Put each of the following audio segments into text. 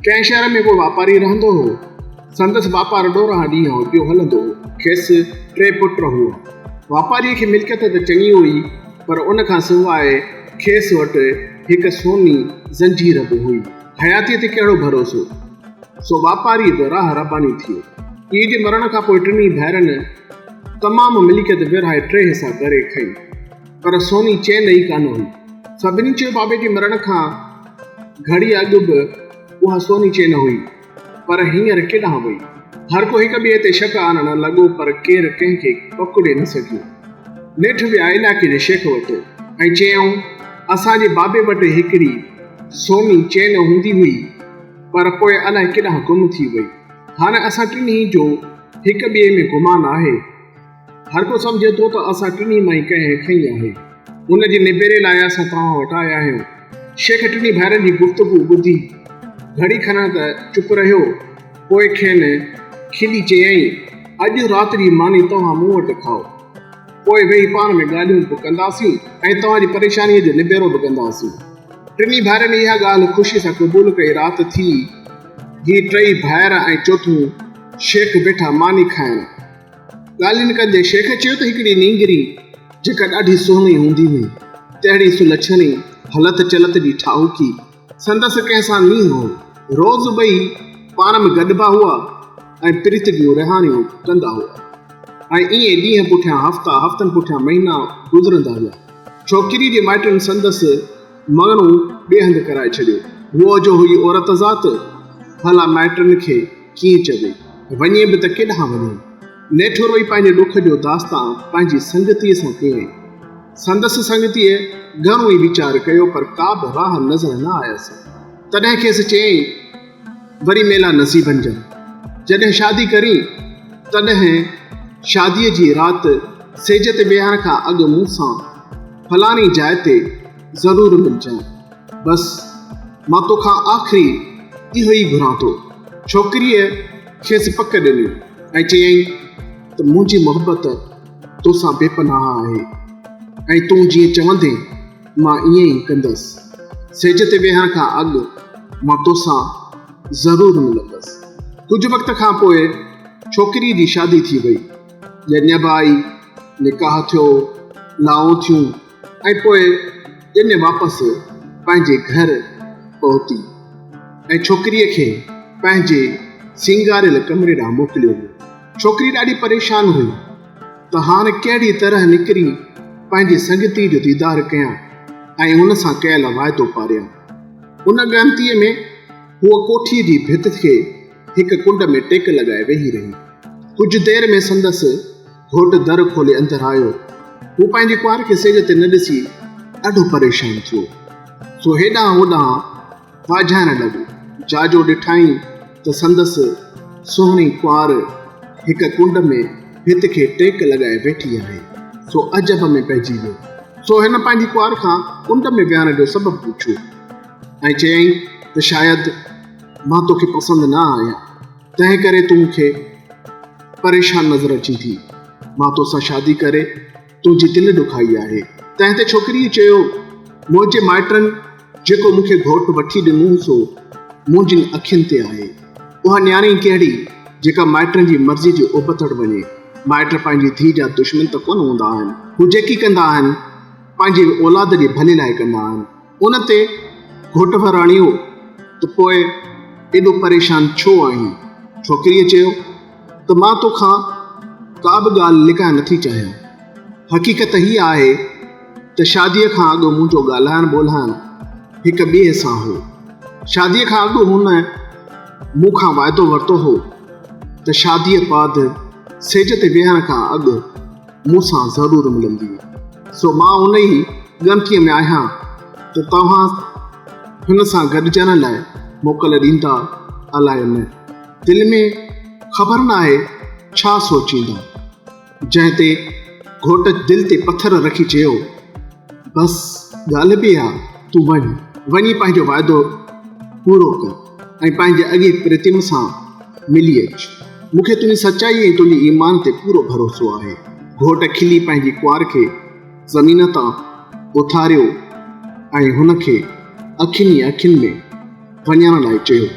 ڪنهن شهر ۾ ڪو واپاري رهندو هو. سندس واپار ڏورانهن ڏينهن هو پيو هلندو هو. کيس ٽي پٽ هئا. واپاريء کي ملڪيت ته چڱي هئي، پر ان کان سواء کيس وٽ هڪ سوني زنجير به هئي. حياتيء تي ڪهڙو ڀروسو؟ سو واپاريء به راهه رباني ٿيو. پيء جي مرڻ کان پوء ٽنهي ڀائرن تمام ملڪيت ورهائي ٽي حصا ڪري کنئي. پر سوني چين ئي ڪانه هئي. سڀني چيو بابي جي مرڻ کان گهڙي اڳ به اها سوني چين هئي، پر هينئر ڪيڏانهن وئي؟ هر ڪو هڪ ٻئي تي شڪ آڻڻ لڳو پر ڪير ڪنهن کي پڪڙي نه سگهيو. نيٺ ويا علائقي جي شيخ وٽ ۽ چيائون، اسان جي بابي وٽ هڪڙي سوني چين هوندي هئي، پر پوء الائي ڪيڏانهن گم ٿي وئي. هاڻي اسان ٽنهي جو هڪ ٻئي ۾ گمان آهي. هر ڪو سمجهي ٿو ته اسان ٽنهي مان ئي ڪنهن کنئي آهي. ان جي نبيري لاء اسان توهان وٽ آيا آهيون. شيخ ٽنهي ڀائرن جي گفتگو ٻڌي گهڙي کنا ته چپ رهيو. پوء کين کلي چيائين، اڄ رات جي ماني توهان مون وٽ کائو. پوء ويهي پاڻ ۾ ڳالهيون به ڪنداسين ۽ توهان جي پريشانيء جو نبيرو به ڪنداسين. ٽنهي ڀائرن اها ڳالهه خوشيء سان قبول ڪئي. رات ٿي. هي ٽئي ڀائر ۽ چوٿون شيخ ويٺا ماني کائڻ. ڳالهين ڪندي شيخ چيو ته هڪڙي نينگري جيڪا ڏاڍي سهڻي هوندي هئي، تهڙي سلڇڻي، هلت چلت جي ٺاهوڪي، سندس ڪنهن سان نينهن هو. روز ٻئي پاڻ ۾ گڏبا هئا ۽ پريت جون رهاڻيون ڪندا هئا ۽ ائين ڏينهن پٺيان هفتا، هفتن پٺيان مهينا گذرندا هئا. ڇوڪريء جي مائٽن سندس مڱڻو ٻئي هنڌ ڪرائي ڇڏيو. هوء جو هئي عورت ذات، ڀلا مائٽن کي. ڪيئن چئجي؟ وڃي به ته ڪيڏانهن وڃي؟ نيٺورئي پنهنجي ڏک جو داستان پنهنجي سنگتيء سان ڪيائين. سندس سنگتيء گهڻو ئي ويچار ڪيو پر ڪا به راهه نظر نه آيس. تڏهن کيس چيائين، وري ميلا نصيبن جا. جڏهن شادي ڪرين، تڏهن شاديء جي رات سيج تي ويهڻ کان اڳ مون سان فلاڻي جاء تي ضرور ملجانء. بس مان توکان آخري اهو ئي گهران ٿو. ڇوڪريء کيس پڪ ڏني ۽ چيائين ته منهنجي محبت توسان بي پناهه آهي ۽ تون جيئن چوندين مان ائين ئي ڪندس. سيج تي ويهڻ کان اڳ مان توسان ضرور ملندس. ڪجهه وقت کان پوء ڇوڪريء جي شادي ٿي وئي. ڄڃ به آئي، نڪاح ٿيو، لائون ٿيون. ۽ پوء ڄڃ واپس پنهنجي گهر پهتي ۽ ڇوڪريء کي پنهنجي سينگاريل ڪمري ڏانهن موڪليو ويو. ڇوڪري ڏاڍي پريشان هئي ته هاڻ ڪهڙيء طرح نڪري پنهنجي سنگتيء جو ديدار ڪيان ۽ هن سان ڪيل واعدو پاريان. ان ڳڻتيء ۾ هوء ڪوٺيء جي ڀت کي هڪ ڪنڊ ۾ ٽيڪ لڳائي ويهي رهي. ڪجهه دير ۾ سندس. گهوٽ در کولي اندر آيو. هو پنهنجي ڪنوار کي سيج تي نه ڏسي ڏاڍو پريشان ٿيو. سو هيڏانهن هوڏانهن واجهائڻ لڳو. جاجو ڏٺائين ته سندس سهڻي ڪنوار هڪ ڪنڊ ۾ ڀت کي ٽيڪ لڳائي ويٺي آهي. سو عجب ۾ پئجي ويو. سو هن پنهنجي ڪنوار کان ڪنڊ ۾ ويهڻ جو سبب پڇيو ۽ چيائين ته شايد مان توکي پسند نه آهيان. تنهن ڪري تون مون کي پريشان نظر اچين ٿي. مان تو سان شادي ڪري تنهنجي دل ڏکائي آهي. تنهن تي ڇوڪريء چيو، منهنجي مائٽن جيڪو مون کي گهوٽ وٺي ڏنو سو منهنجين اکين تي آهي. اها نياڻي ڪهڙي جيڪا مائٽن جي مرضي جي ابتڙ وڃي. مائٽ پنهنجي ڌيء جا دشمن ته ڪونه هوندا آهن. هو جيڪي ڪندا آهن پنهنجي اولاد جي ڀلي لاء ڪندا آهن. ان تي گهوٽ به راڻيو ته پوء ايڏو پريشان ڇو آهين؟ ڇوڪريء چيو ته مان تو کان ڪا به ڳالهه لڪائڻ نٿي چاهيان. حقيقت هيء آهي ته شاديء کان اڳ منهنجو ڳالهائڻ ٻولهائڻ هڪ ٻئي سان هو. شاديء کان اڳ هن مون کان وعدو ورتو هو ته شاديء بعد سيج تي ويهڻ کان اڳ مون سان ضرور ملنديء، سو مان انهيء ڳڻتيء ۾ آهيان ته توهان هن سان گڏجڻ لاء موڪل ڏيندا الاء نه، دل ۾ خبر نه آهي ڇا سوچيندا. جنهن تي گهوٽ دل تي پٿر رکي چيو. بس ڳالهه به اها تون وڃ وڃي پنهنجو وعدو پورو ڪر ۽ پنهنجي اڳي پرتم سان ملي اچ مون کي تنهنجي سچائي ۽ تنهنجي ايمان تي پورو ڀروسو آهي گهوٽ کلي پنهنجي ڪنوار کي زمين تان اٿاريو ۽ هن کي اکين ئي اکين ۾ وڃڻ لاء چيو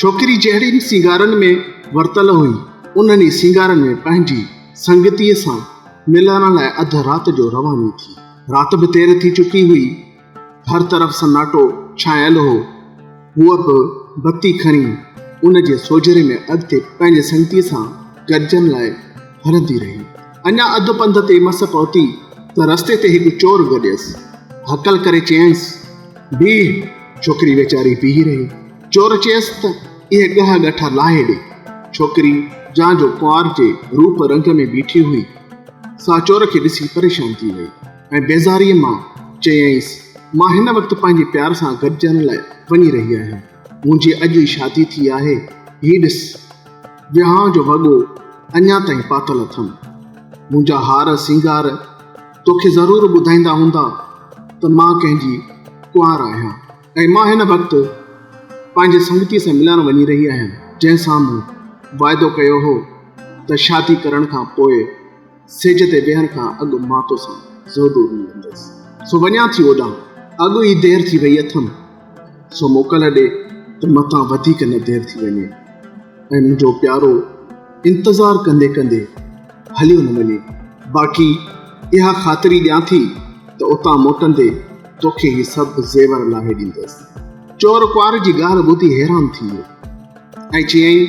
ڇوڪري جهڙين سينگارن ۾ ورتل هئي انهن ئي سينگارن ۾ پنهنجي سنگتيء سان ميلانا لاء اڌ رات جو رواني ٿي. رات به دير ٿي چڪي هئي. هر طرف سناٽو ڇانيل هو. هوء به بتي کڻي ان جي سوجهري ۾ اڳتي پنهنجي سنگتيء سان گڏجڻ لاء هلندي رهي. اڃا اڌ پنڌ تي مس پهتي ته رستي تي هڪ چور گڏيس. هڪل ڪري چيائينس، بيهه! ڇوڪري ويچاري بيهي رهي. چور چيس ته اهي ڳهه ڳٺا لاهي ڏي. ڇوڪري جا جو ڪنوار جي روپ رنگ ۾ بيٺي هئي، سا چور کي ڏسي پريشان ٿي وئي ۽ بيزاريء مان چيائينس، مان هن وقت پنهنجي پيار سان گڏجڻ لاء وڃي رهي آهيان. منهنجي اڄ ئي شادي ٿي آهي. هي ڏس، ويهانء جو وڳو اڃا تائين پاتل اٿم. منهنجا هار سينگار توکي ضرور ٻڌائيندا هوندا ته مان ڪنهن جي ڪنوار آهيان. ۽ مان هن وقت پنهنجي سنگتي سان ملڻ وڃي رهي آهيان جنهن سان مون واعدو ڪيو هو ته شادي ڪرڻ کان پوء سيج تي ويهڻ کان اڳ مان توسان زودور ملندس سو وڃان ٿي اوڏانهن اڳ ئي دير ٿي وئي اٿم سو موڪل ڏي ته متان وڌيڪ نه دير ٿي وڃي ۽ منهنجو پيارو انتظار ڪندي ڪندي هليو نه وڃي باقي اها خاطري ڏيان ٿي ته اتان موٽندي توکي هي سڀ زيور لاهي ڏيندس. چور ڪنوار جي ڳالهه ٻڌي حيران ٿي ويو ۽ چيائين،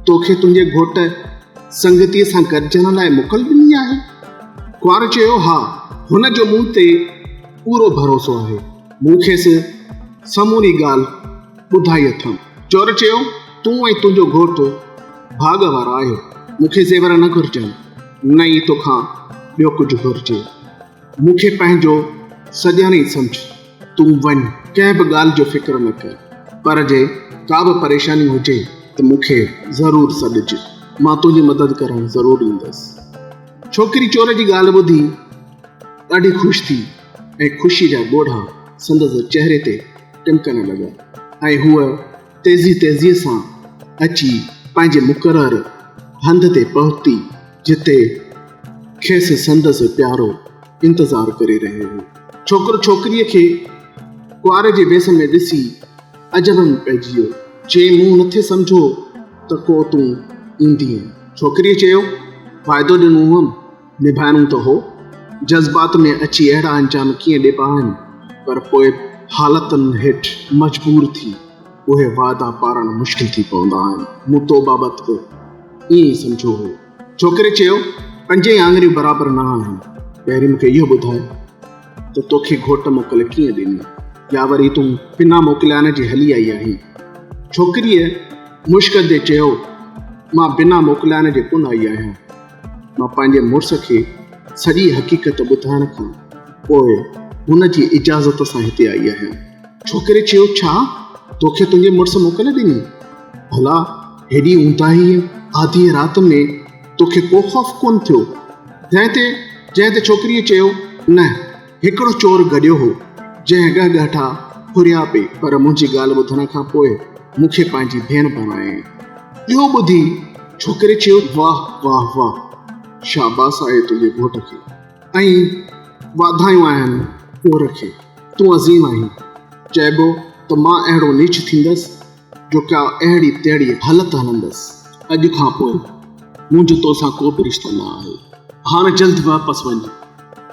توکي تنهنجي گهوٽ سنگتيء سان گڏجڻ لاء موڪل ڏني آهي؟ ڪنوار چيو، ها، هن جو مون تي پورو ڀروسو آهي. مون کيس سموري ڳالهه ٻڌائي اٿم. چور چيو، تون ۽ تنهنجو گهوٽ ڀاڳ وارا آهيو. مون کي زيور نه گهرجن، نه ئي توکان ٻيو ڪجهه گهرجي. مون کي پنهنجو سڄڻ ئي سمجهه، تون وڃ، ڪنهن به ڳالهه جو فڪر نه ڪر، پر جي ڪا به پريشاني هجي ته مون کي ضرور سڏج، مان تنهنجي مدد ڪرڻ ضرور ايندس. ڇوڪري چور جي ڳالهه ٻڌي ڏاڍي خوش ٿي ۽ خوشي جا ڳوڙها سندس چهري تي ٽمڪڻ لڳا ۽ هوء تيزي تيزيء سان اچي پنهنجي مقرر هنڌ تي پهتي. جتي کيس سندس پيارو انتظار ڪري رهيو هو. ڇوڪرو ڇوڪريء کي ڪنوار جي ويس ۾ ڏسي عجب ۾ پئجي ويو. چيائين، مون نٿي سمجهيو ته ڪو تون ايندينء. ڇوڪريء چيو، وعدو ڏنو هئم، نڀائڻو ته هو. جذبات ۾ اچي اهڙا انجام ڪيئن ڏبا آهن، پر پوء حالتن هيٺ مجبور ٿي. اهي واعدا پارڻ مشڪل ٿي پوندا آهن. مون تو بابت به ائين ئي سمجهيو هو. ڇوڪري چيو، پنجئي آڱريون برابر نه آهن. پهرين مون کي اهو ٻڌاء ته توکي گهوٽ موڪل ڪيئن ڏني يا وري تون بنا موڪليان جي هلي آئي آهين. ڇوڪريء مشڪندي چيو، مان بنا موڪليان جي ڪونه آئي آهيان. مان پنهنجي مڙس کي سڄي حقيقت ٻڌائڻ کان پوء هن جي اجازت سان هتي آئي آهيان. ڇوڪري چيو، ڇا توکي تنهنجي مڙس موڪل ڏني؟ ڀلا هيڏي اونداهيء آڌيء رات ۾ توکي ڪو خوف ڪونه ٿيو؟ جنهن تي جنهن تي ڇوڪريء چيو، نه، هڪڙو چور گڏيو هو، جنهن ڳهه ڳهٽا ڦريا پئي پر منهنجي ڳالهه ٻڌڻ کان پوء مون کي پنهنجي ڀيڻ بڻايائين. اهو ٻڌي ڇوڪري چيو، واهه واهه واهه، شاباس آهي تنهنجي گهوٽ کي. ۽ واڌايون آهن ڪوهر کي، تون عظيم آهين. چئبو ته مان اهڙو نيچ ٿيندس جو ڪا اهڙي تهڙي هلت هلندس. اڄ کان پوء منهنجو تو سان ڪو به رشتو نه آهي. هاڻ جلد واپس وڃ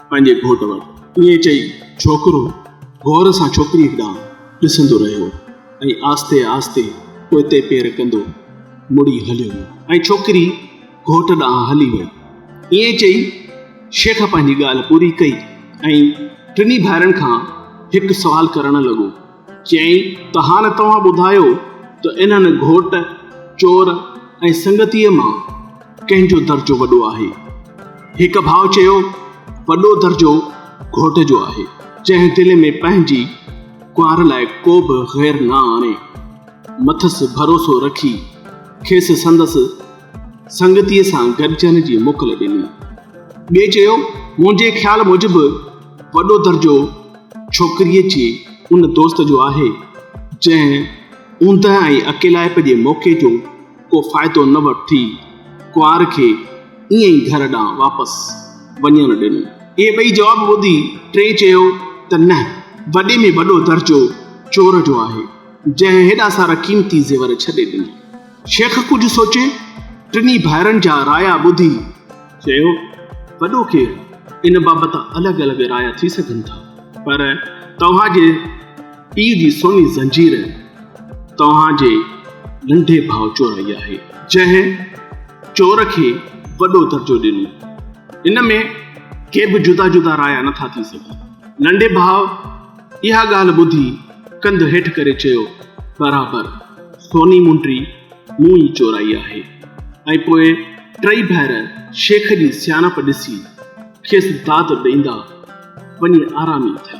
پنهنجي گهوٽ وٽ. ائين چئي ڇوڪرو غور سان ڇوڪريء ڏانهن ڏسندو رهيو ۽ آهستي آهستي پوئتي پير ڪندو مڙي هليو ويو ۽ ڇوڪري گهوٽ ڏانهن هلي وئي. ائين چئي شيخ پنهنجي ڳالهه پوري ڪئي ۽ ٽنهي ڀائرن کان هڪ سوال ڪرڻ لڳو. چيائين ته هاڻ توهان ٻڌايو ته انهن گهوٽ، چور ۽ سنگتيء مان ڪنهن جو درجو وڏو آهي؟ هڪ ڀاء چيو وڏو درجو گهوٽ جو آهي، جنهن دل ۾ پنهنجي ڪنوار لاء ڪو به غير نه آڻي، مٿس ڀروسو رکي کيس سندس سنگتيء سان گڏجڻ جي موڪل ڏني. ٻئي چيو، منهنجي خيال موجب وڏو درجو ڇوڪريء جي ان دوست جو آهي، جنهن اوندهه ۽ اڪيلائپ جي موقعي جو ڪو فائدو نه وٺي، ڪنوار کي ائين ئي گهر ڏانهن واپس وڃڻ ڏنو. اهي ٻئي جواب ٻڌي، ٽئين چيو ته نه، وڏي ۾ وڏو درجو چور جو آهي، جنهن هيڏا سارا قيمتي زيور ڇڏي ڏنا. شيخ ڪجهه سوچي ٽنهي ڀائرن جا رايا ٻڌي چيو، وڏو ڪير، ان بابت الڳ الڳ رايا ٿي سگهن ٿا، پر توهان جي پيء جي سوني زنجير توهان جي ننڍي ڀاء چورائي آهي، جنهن چور کي وڏو درجو ڏنو، ان ۾ ڪي به جدا جدا رايا نٿا ٿي سگهن، ننڍي ڀاء اها ڳالهه ٻڌي ڪنڌ هيٺ ڪري چيو، برابر، سوني مونڊري مون ئي چورائي آهي. ۽ پوء ٽئي ڀائر شيخ جي سياڻپ ڏسي کيس داد ڏيندا وڃي آرامي ٿيا.